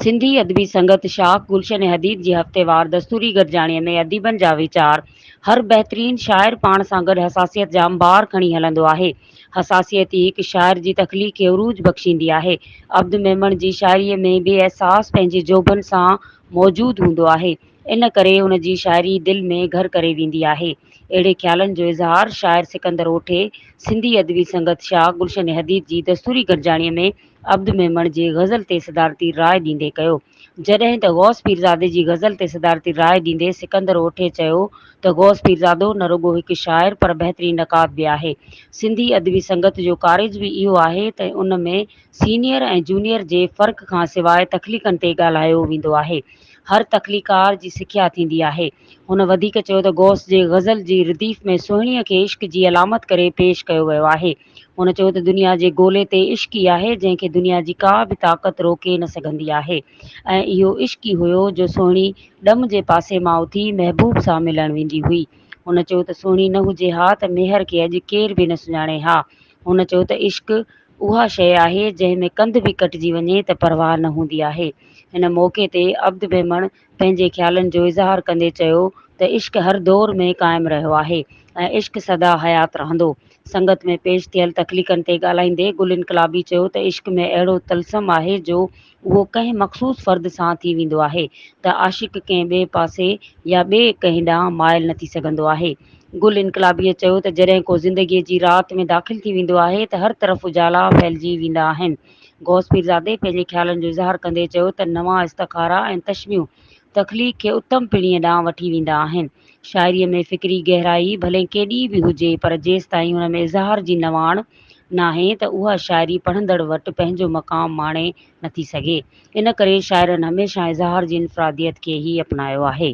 سنڌي ادبي سنگت شاخ گلشن حديد جي هفتيوار دستوري گڏجاڻيء ۾ اديبن جا ويچار، هر بهترين شاعر پاڻ سان گڏ حساسيت جا انبار کڻي هلندو آهي. حساسيت ئي هڪ شاعر جي تخليق کي عروج بخشيندي آهي. عبد ميمڻ جي شاعريء ۾ بي احساس پنهنجي جوڀن سان موجود هوندو آهي، ان ڪري ان جي شاعري دل ۾ گهر ڪري ويندي آهي. اهڙي خيالن جو اظهار شاعر سڪندر اوٺي سنڌي ادبي سنگت شاخ گلشن حديد جي دستوري گڏجاڻيء ۾ عبد ميمڻ جي غزل تي صدارتي راء ڏيندي ڪيو. جڏهن ته غوث پيرزادي جي غزل تي صدارتي راء ڏيندي سڪندر اوٺي چيو ته غوث پيرزادو نه رڳو هڪ شاعر پر بهترين نقاد به آهي. سنڌي ادبي سنگت جو ڪارج به اهو آهي ته ان ۾ سينيئر ۽ جونيئر جي فرق کان سواء تخليقن تي ڳالهايو ويندو آهي. هر تخليقار جي سکيا ٿيندي آهي. هن وڌيڪ چيو ته غوث جي غزل جي رديف ۾ سهڻيء کي عشق جي علامت ڪري پيش ڪيو ويو آهي. هن چيو ته دنيا جي گولي تي عشق ئي آهي جنهن کي دنيا جي ڪا به طاقت روڪي نه سگهندي آهي ۽ اهو عشق ئي هيو جو سهڻي ڏم جي پاسي مان اٿي محبوب سان ملڻ ويندي هئي هن چيو ته سهڻي نه هجي ها ته ميهر کي اڄ ڪير به نه سڃاڻي ها هن چيو ته عشق اها شيء آهي جنهن ۾ ڪنڌ به ڪٽجي وڃي ته پرواهه نه هوندي آهي هن موقعي تي عبد ميمڻ پنهنجي خيالن جو اظهار ڪندي چيو ته عشق هر دور ۾ قائم رهيو آهي ۽ عشق سدا حيات رهندو. سنگت ۾ پيش ٿيل تخليقن تي ڳالهائيندي گل انقلابي چيو ته عشق ۾ اهڙو طلسم آهي جو اهو ڪنهن مخصوص فرد سان ٿي ويندو آهي ته عاشق ڪنهن ٻئي پاسي يا ٻئي ڪنهن ڏانهن مائل نه ٿي سگهندو آهي. گل انقلابيء چيو ته جڏهن ڪو زندگيء جي رات ۾ داخل ٿي ويندو آهي ته هر طرف اجالا ڦهلجي ويندا آهن. غوث پيرزادي پنهنجي خيالن جو اظهار ڪندي چيو ته نوان استخارا ۽ تشبيهون تخليق کي اتم پيڙهيء ڏانهن وٺي ويندا آهن. شاعريء ۾ فڪري گهرائي ڀلي ڪيڏي به هجي پر جيستائين ان ۾ اظهار جي نواڻ ناهي ته اها شاعري پڙهندڙ وٽ پنهنجو مقام ماڻي نٿي سگهي. ان ڪري شاعرن هميشه اظهار جي انفراديت کي ئي اپنايو آهي.